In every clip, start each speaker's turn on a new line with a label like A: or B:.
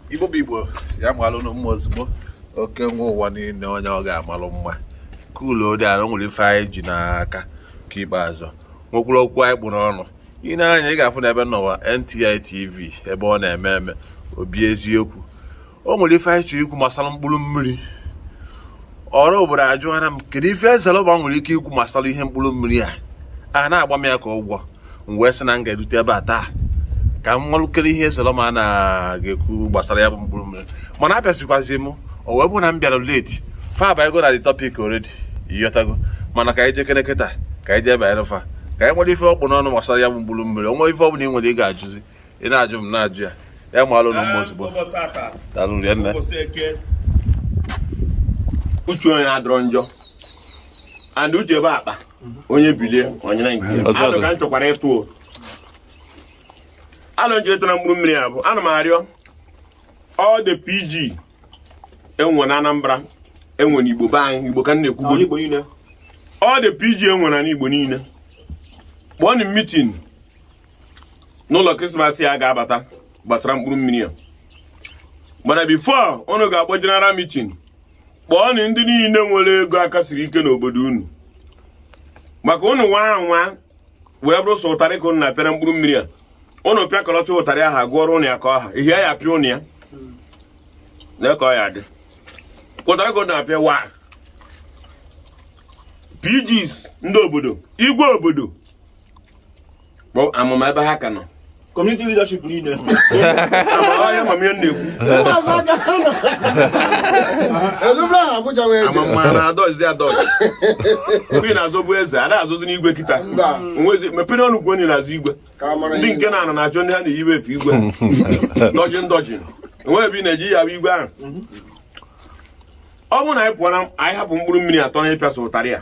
A: igbo bụ igbo ya malụ nụ mma ozugbo oke nwa ụwa niile onye ọ ga-amalụ mma kedu ọ dị anyị nwere ife anyị ji n'aka nke ikpeazụ nwekwuru okwu anyị kpụ n'ọnụ ị nee anya ị ga-afụ na ebe nọwa NTI TV ebe ọ na-eme eme obi eziokwu o nwere ife anyị chọrọ ikwu gbasara mkpụrụ mmiri ọra obodo ajụghara m kedu ife ezelọba nwere ike ikwu gbasara ihe mkpụrụ mmiri a a na-agba m ya ka ụgwọ m wee sị na m ga-erute ebe a taa ka m malụkene ihe ezelọma na-ekwu gbasara ya bụ mkpụrụ mmiri mana abịazikwazi m o wee bụ na m bịara late fa abago na the topic already ị ghọtago mana ka anyị jekere kịta ka anyị jee banyere fa ka anyị mara ife ọ kpụ n'ọnụ gbasara ya bụ mkpụrụ mmiri o nwee ife ọ bụla ị nwere ị ga-ajụzi ị na-ajụ m na-ajụ ya ya malụ nụ mma ozugbo daalụ rinne uche onye adịrọ njọ and uche bụ akpa onye bilie ọ nyara nke ya alo ka m chọkwara ịtụ o alo m chọ ịtụ na mkpụrụ mmiri a bụ ana m arịọ all the pg e nwe na anambra e nwe na igbo be anyị igbo ka m na-ekwugo all the pg e nwe na igbo niile kpọọnụ meeting n'ụlọ krismas a ga-abata gbasara mkpụrụ mmiri a mana before unu ga-akpọ general meeting kpọọnụ ndị niile nwere ego aka siri ike n'obodo unu maka unu nwa nwa were bụrụ sọ ụtarị ka unu na-apịara mkpụrụ mmiri a unu pịakọlọchaa ụtarị a ha gụọrọ ụnụ ya ka ọ ha ihe ya pịa ụnụ ya na ka ọ ya dị ụtarị ka unu na-apịa wa PGs ndị obodo igwe obodo kpọọ amụma ebe ha ka nọ community leadership niile onye amamihe na-ekwu elubra ha abụja wee dị amamma na adọzi adọzi mgbe ị na-azọbu eze a na-azọzi n'igwe kịta Mba. Onwezi- mepere ọnụ kwuo onye na-azọ igwe ka a mara ndị ihe nke na-anọ na-achọ ndị ha na-eyiwe efe igwe ndọjị ndọjị enweghị ebe ị na-eji ya bụ igwe ahụ ọ bụrụ na anyị pụọ na anyị hapụ mkpụrụ mmiri a tọ na ịpịa sọ ụtarị a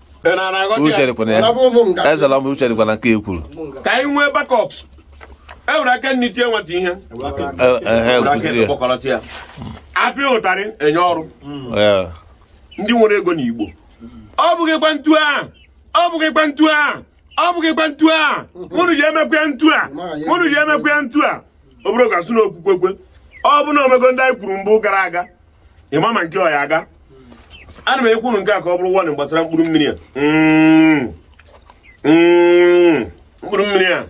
A: uche dịkwa na ya ezela m uche dịkwa na nke e kwuru ka anyị nwee backup e were aka nni tie nwata ihe a pịa ụtarị e nye ọrụ ndị nwere ego na igbo ọ bụghịkwa ntu a ọ bụghịkwa ntu a ọ bụghịkwa ntu a unu ji emekwa ya ntu a unu ji emekwa ya ntu a ọ bụrọ ga-asị na okwukwekwe ọ bụ na o mego ndị anyị kwuru mgbe gara aga ịma ma nke ọ ya-aga ana m ekwuru nke a ka ọ bụrụ warning gbasara mkpụrụ mmiri a mm. Mm. mkpụrụ mmiri a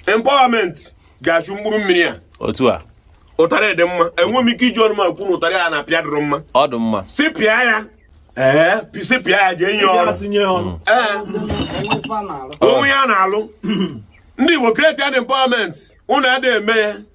A: empowerment ga-achụ mkpụrụ mmiri a otu a ụtarị dị mma enwe m ike iji ọnụ m ekwu na ụtarị a na-apịa adịrọ mma ọ dị mma si pịa ya ee si pịa ya jee nye ọrụ mm. onwe ya na-alụ ndị Igbo create an empowerment ụnụ adịghị eme ya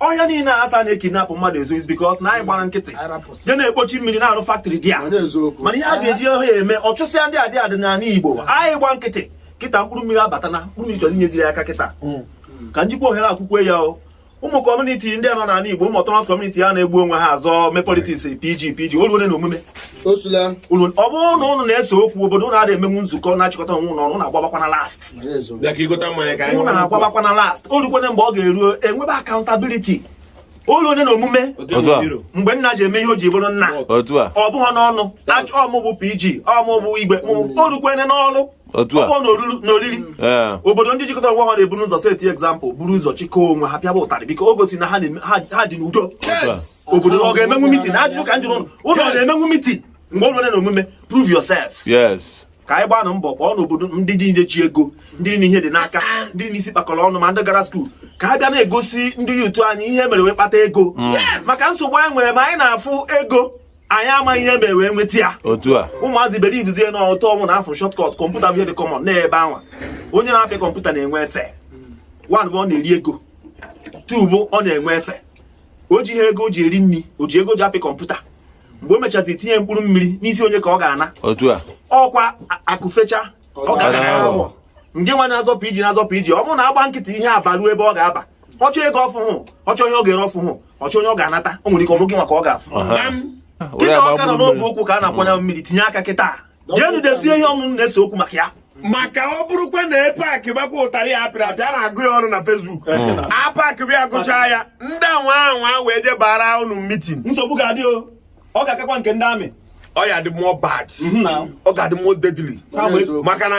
A: ọhịa niile a asa na-ekidnapụ mmadụ ezo is because na anyị gbara nkịtị je na-ekpochi mmiri na-arụ faktrị dia mana ihe a ga-eji ọhịa eme ọchụsịa ndị adị adị n'ala Igbo anyị gba nkịtị kịta mkpụrụ mmiri abata na mkpụrụ mmiri chọzi nyeziri aka kịta hmm. ka m jikwa ohere a kwukwuo ya o ụmụ kọmuniti ndị a nọ n'ala Igbo ụmụ ọtọnọmọs kọmuniti a na-egbu onwe ha azọ mee politiks pg pg o luole na omume ọ bụrụ na ụnụ na-ese okwu obodo ụnụ na-emenwu nzukọ na-achịkọta onwe ụnụ ọnụ na-agbabakwana last ụnụ na-agbabakwana last o lukwene mgbe ọ ga-eru e nwebe akaụntabiliti o luone na omume mgbe nna ji eme ihe o ji bụrụ nna ọ bụghị n'ọnụ ọ mụ bụ pg ọ mụ bụ igwe o lukwene n'ọlụ ọkpọ na oriri obodo ndị jikọtara onwe ha na-ebu ụzọ seti egzampụl buru ụzọ chịkọọ onwe ha pịaba ụtarị biko o gosi na ha dị n'udo obodo ọ ga-emenwu mitin ajụjụ ka m jụrụ ụnụ ọ na-emenwu mitin mgbe ọ nwere na omume prove yourselves ka anyị gbanụ mbọ kpọọ n'obodo ndị dị nje chi ego ndị na ihe dị n'aka ndị na isi kpakọrọ ọnụ ma ndị gara skuul ka a bịa na-egosi ndị yutu anyị ihe mere wee kpata ego mm. maka nsogbu anyị nwere ma anyị na-afụ ego anyị amaghị ihe mere wee nweta ya otu a ụmụazị belivuzie na ọtọ ọnwụ na afọ shọtkọt kọmputa bụ ihe dị kọmọn n'ebe anwa onye na-apịa kọmputa na-enwe efe wan bụ ọ na-eri ego tu bụ ọ na-enwe efe o ji ihe ego o ji eri nri o ji ego ji apịa kọmputa mgbe o mechazie tinye mkpụrụ mmiri n'isi onye ka ọ ga-ana otu a ọkwa akụfecha ọ ga-ana ahụ ndị nwa na-azọpụ iji na-azọpụ iji ọ bụrụ na a gbaa nkịtị ihe abaruo ebe ọ ga-aba ọ chọọ ego ọ fụhụ ọ chọọ ihe ọ ga-ere ọ fụhụ ọ chọọ onye ọ ga-anata o nwere ike ọ bụghị maka ọ ga-afụ kịta ọ ka nọ n'ogbe ụkwụ ka a na-akwọ ya mmiri tinye aka kịta jeenụ dezie ihe ọ bụ ụnụ na-ese okwu maka ya maka ọ bụrụkwa na epak gbakwa ụtarị ya apịrị apịa na-agụ ya ọrụ na fesbuk apak bịa gụchaa ya ndị anwa anwa wee je bara ụnụ mitin nsogbu ga-adị o ọ ga-akakwa nke ndị ami ọ ya-adị mọ bad ọ ga-adị mọ dedili maka na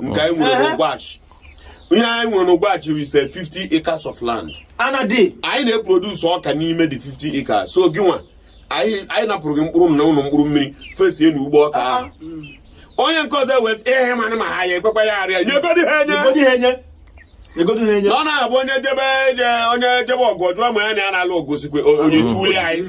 A: nke anyị nwere n'Ọgwashị ihe anyị nwere n'Ọgwashị is 50 acres of land ana dị anyị na-eproduce ọka n'ime the 50 acres so gị nwa anyị napụrụ gị mkpụrụ n'ọnụ mkpụrụ mmiri fesie na ugbo ọka ah, ahụ ah. onye nke ọzọ wee ihe mana ma ha ya ekwekwa ya arịa nyegodi ha enye ọ na-abụ onye jebe onye jebe ọgụ ọ jụọ ma ya na ya na-alụ o gosikwa onye tuuli anyị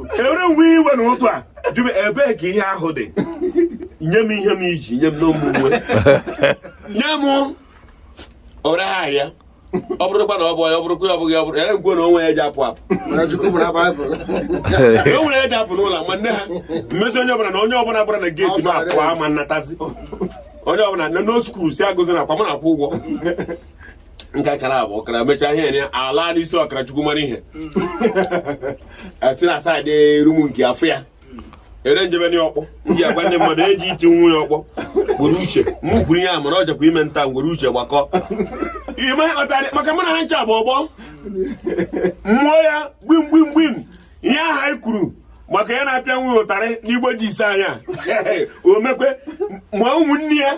A: ewere nwe iwe na ụtụ a jụrụ ebee ka ihe ahụ dị nye m ihe m ji nye m n'ụmụ uwe nye m ọra ha ya ọ bụrụkwa na ọ bụ ya ọ bụrụkwa ya ọ bụghị ọ bụrụ ya nkwe na onwe ya ji apụ apụ e nwere ya ji apụ n'ụlọ ma nne ha mmezi onye ọbụla na onye ọbụla gbara na geeti ma apụ ama natazi onye ọbụla na nọ skuul si agụzi na ọkwa m na-akwụ ụgwọ nke akara abụ ọkara mechaa ihe ya ala n'isi ọkara chukwu mara ihe si na saịdị rumu nke afọ ya ere njebe ndị ọkpọ m ji agwa ndị mmadụ eji iti nwa ya ọkpọ were uche mụ kwuru ihe a mana ọ jakwa ime nta were uche gbakọ maka mụ na ha ncha bụ ọgbọ mmụọ ya gbim gbim gbim ihe ahụ anyị kwuru maka ya na-apịa nwa ụtarị n'igbo ji ise anya o mekwaa ụmụnne ya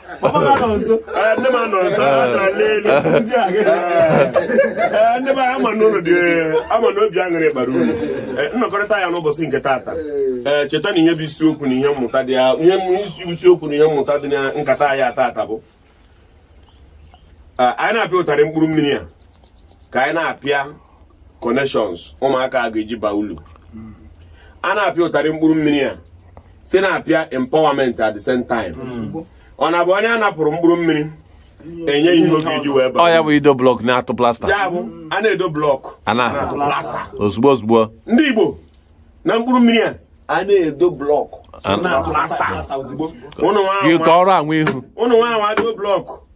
A: ndị m anọ nso atara n'elu ndị be ama na ụlọ dị ama na obi aṅụrị bara uru nnọkọrịta ya n'ụbọchị nke taata ee cheta na ihe bụ isiokwu na ihe mmụta dị ya ihe isiokwu na ihe mmụta dị na nkata ya taata bụ anyị na-apịa ụtarị mkpụrụ mmiri a ka anyị na-apịa connections ụmụaka a ga-eji baa ulu a na-apịa ụtarị mkpụrụ mmiri a sị na-apịa empowerment at the same time ọ na-abụ onye a napụrụ mkpụrụ mmiri e nye ihe ọ ga-eji wee baa ọ ya bụ ido blọk na-atụ plasta ya bụ a na-edo blọk a na-atụ plasta ozugbo ozugbo ndị Igbo na mkpụrụ mmiri a a na-edo blọk na plasta ozugbo ụnụ nwa anwa ihu ụnụ nwa anwa do blọk